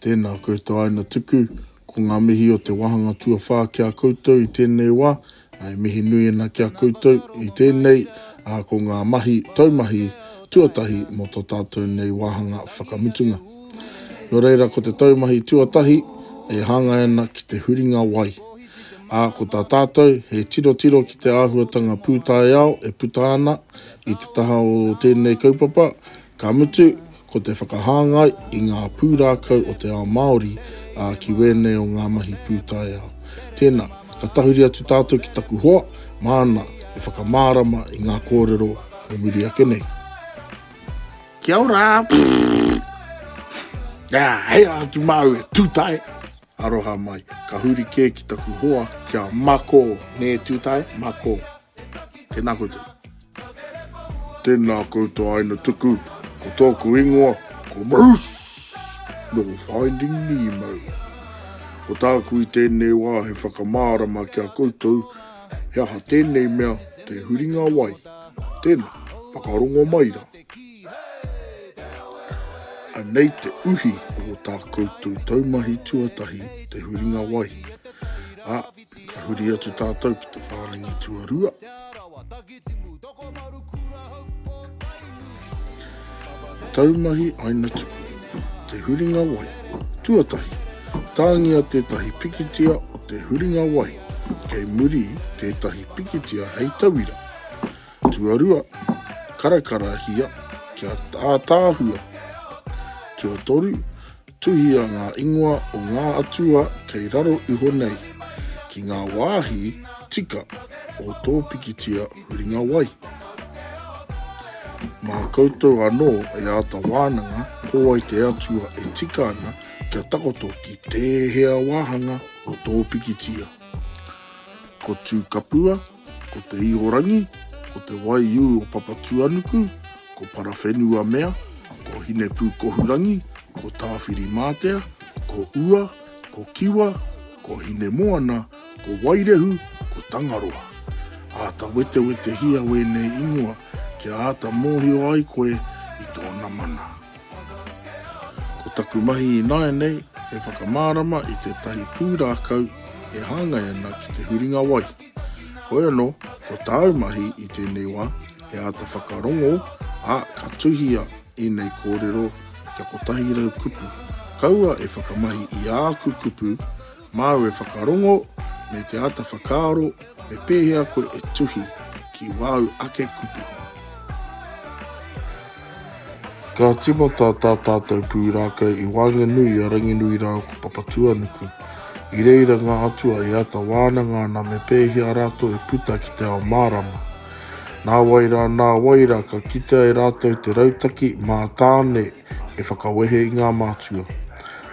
Tēnā koutou aina tuku, ko ngā mihi o te wāhanga tuawhā ki a koutou i tēnei wā, e mihi nui ana ki a koutou i tēnei, ā, ko ngā mahi taumahi tuatahi mō tō tātou nei wāhanga whakamutunga. Nō reira, ko te taumahi tuatahi e hāngai ana ki te huringa wai, ā, ko tā tātou he tirotiro ki te āhuatanga pūtaiao e puta ana i te taha o tēnei kaupapa, Ka mutu, ko te whakahāngai i ngā pūrākau o te ao Māori ā ki wēnei o ngā mahi pūtaiao. Tēnā, ka tahuri atu tātou ki taku hoa māna e whakamārama i ngā kōrero o muri ake nei. Kia ora! Pfff! Ā, hei rā atu māu e Tūtae! Aroha mai. Ka huri kē ki taku hoa, kia mako, nē Tūtae? Mako. Tēnā koutou. Tēnā koutou aina tuku, ko tōku ingoa, ko Bruce, nō Finding Nemo. Ko tāku i tēnei wā he whakamārama ki a koutou, he aha tēnei mea te huringa wai. Tēnā, whakarongo mai rā. Anei te uhi o tā koutou taumahi tuatahi te huringa wai. A, Ka huri atu tātou ki te whārangi tuarua. Taumahi aina tuku, te huringa wai, tuatahi, tāngia tētahi pikitia o te huringa wai, kei muri tētahi pikitia hei tauira. Tuarua, karakarahia kia ātāhua. Tuatoru, Tuhia ngā ingoa o ngā atua kei raro iho nei ki ngā wāhi tika o tō pikitia huringa wai. Mā koutou anō e āta wānanga ko wai te atua e tika ana kia takoto ki tēhea wāhanga o tō pikitia. Ko Tūkapua, Ko te Ihorangi, ko Te Waiū o Papatūanuku, ko Parawhenuamea, ko Hinepūkohurangi, ko Tāwhirimātea, ko Ua, ko Kiwa, ko Hinemoana, ko Wairehu, ko Tangaroa. Āta wetewetehia wēnei ingoa kia āta mōhio ai koe i tōna mana. Ko taku mahi ināianei he whakamārama i tētahi pūrākau e hāngai ana ki te huringa wai. Hoi anō, ko tāu mahi i tēnei wā, he āta whakarongo, ā, ka tuhia ēnei kōrero kia 100 kupu. Kaua e whakamahi i āku kupu, māu e whakarongo, me te āta whakaaro me pēhea koe e tuhi ki wāu ake kupu. Ka tīmata tā tātou pūrākau i waenganui a Ranginui rāua ko Papatūānuku. I reira ngā atua e āta wānanga ana me pēhea rātou e puta ki te ao mārama. Nā wai rā, nā wai rā, ka kitea e rātou te rautaki mā Tāne e whakawehe i ngā mātua.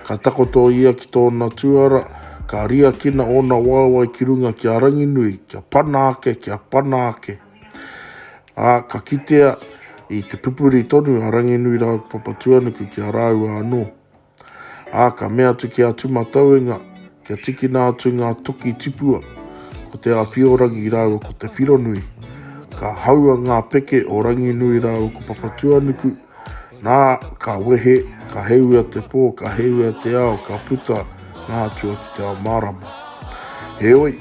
Ka takoto ia ki tōna tūara, ka riakina ōna waewae ki runga ki a Ranginui, kia pana ake, kia pana ake. Ā, ka kitea i te pupuri tonu a Ranginuiraupapatuanuku ki a rāua anō. Ā, ka mea atu ki a Tūmatauenga kia tikina atu ngā toki tipua, ko Te Āwhiorangi rāua ko Te Whironui. Ka haua ngā peke o Ranginuiraupapatuanuku, Nā, ka wehe, ka heuia te pō, ka heuia te ao, ka puta ngā atua ki te ao mārama. Heoi,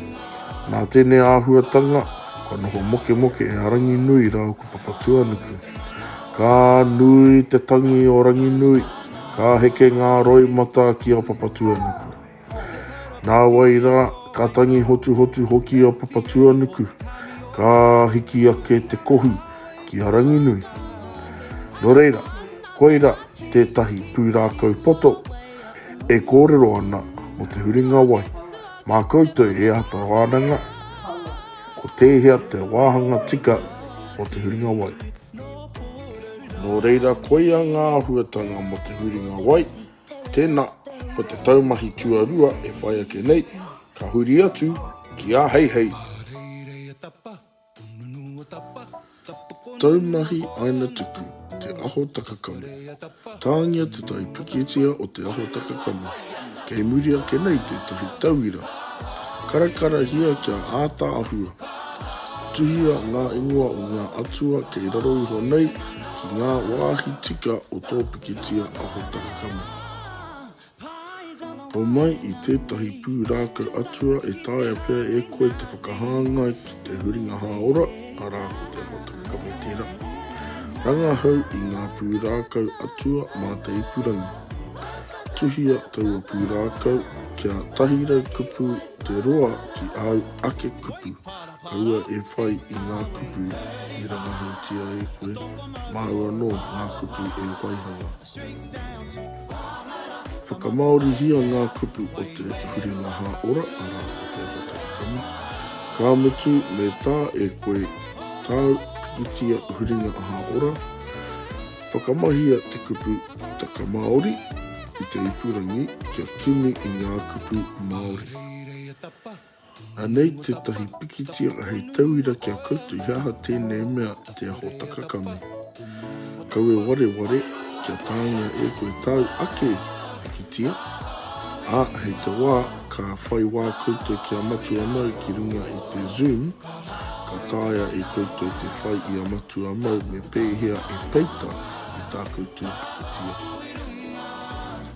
nā tēnei āhuatanga, kua noho mokemoke e a Ranginui rāua ko Papatuanuku. Ka nui te tangi o Ranginui, ka heke ngā roimata ki a Papatuanuku. Nāwai rā, ka tangi hotuhotu hoki a Papatuanuku, ka hiki ake te kohu ki a Ranginui. Nō reira, koirā tētahi pūrākau poto e kōrero ana mō te huringa wai. Mā koutou e āta wānanga ko tēhea te wāhanga tika o te huringa wai. Nō reira, koia ngā āhuatanga mō te huringa wai. Tēnā, ko te taumahi tuarua e whai ake nei, ka huri atu ki āheihei. Taumahi Aina Tuku, Te Aho Takakamu. Tāngia te tai pikitia o Te Aho Takakamu, kei muri ake nei tētahi tauira. Karakarahia kia āta āhua. Tuhia ngā ingoa o ngā atua kei raro iho nei ki ngā wāhi tika o tō pikitia. Kitea a Hotakakama. Homai i tētahi pūrākau atua e taea pea e koe te whakahāngai ki te huringa hāora, arā ko te Hotakakama tērā. Rangahau i ngā pūrākau atua mā te ipurangi. Tuhia taua pūrākau kia tahi rau kupu te roa ki āu ake kupu. Kaua e whai i ngā kupu i rangahaotia e koe, māu anō ngā kupu e waihanga. Whakamāorihia ngā kupu o te huringa hāora, arā, o te awatakakama, ka mutu me tā e koe tāu pikitia huringa hāora. Whakamahia te kupu Taka Māori i te ipurangi kia kimi i ngā kupu Māori. Anei tētahi pikitia hei tauira ki a koutou, he aha tēnei mea te aho takakame? Kaua wareware kia tāngia e koe tāu ake pikitia, ā, hei te wā ka whai wā koutou ki a Matua Mau ki runga i te Zoom, ka taea e koutou te whai i a Matua Mau me pēhea e peita i tā koutou pikitia.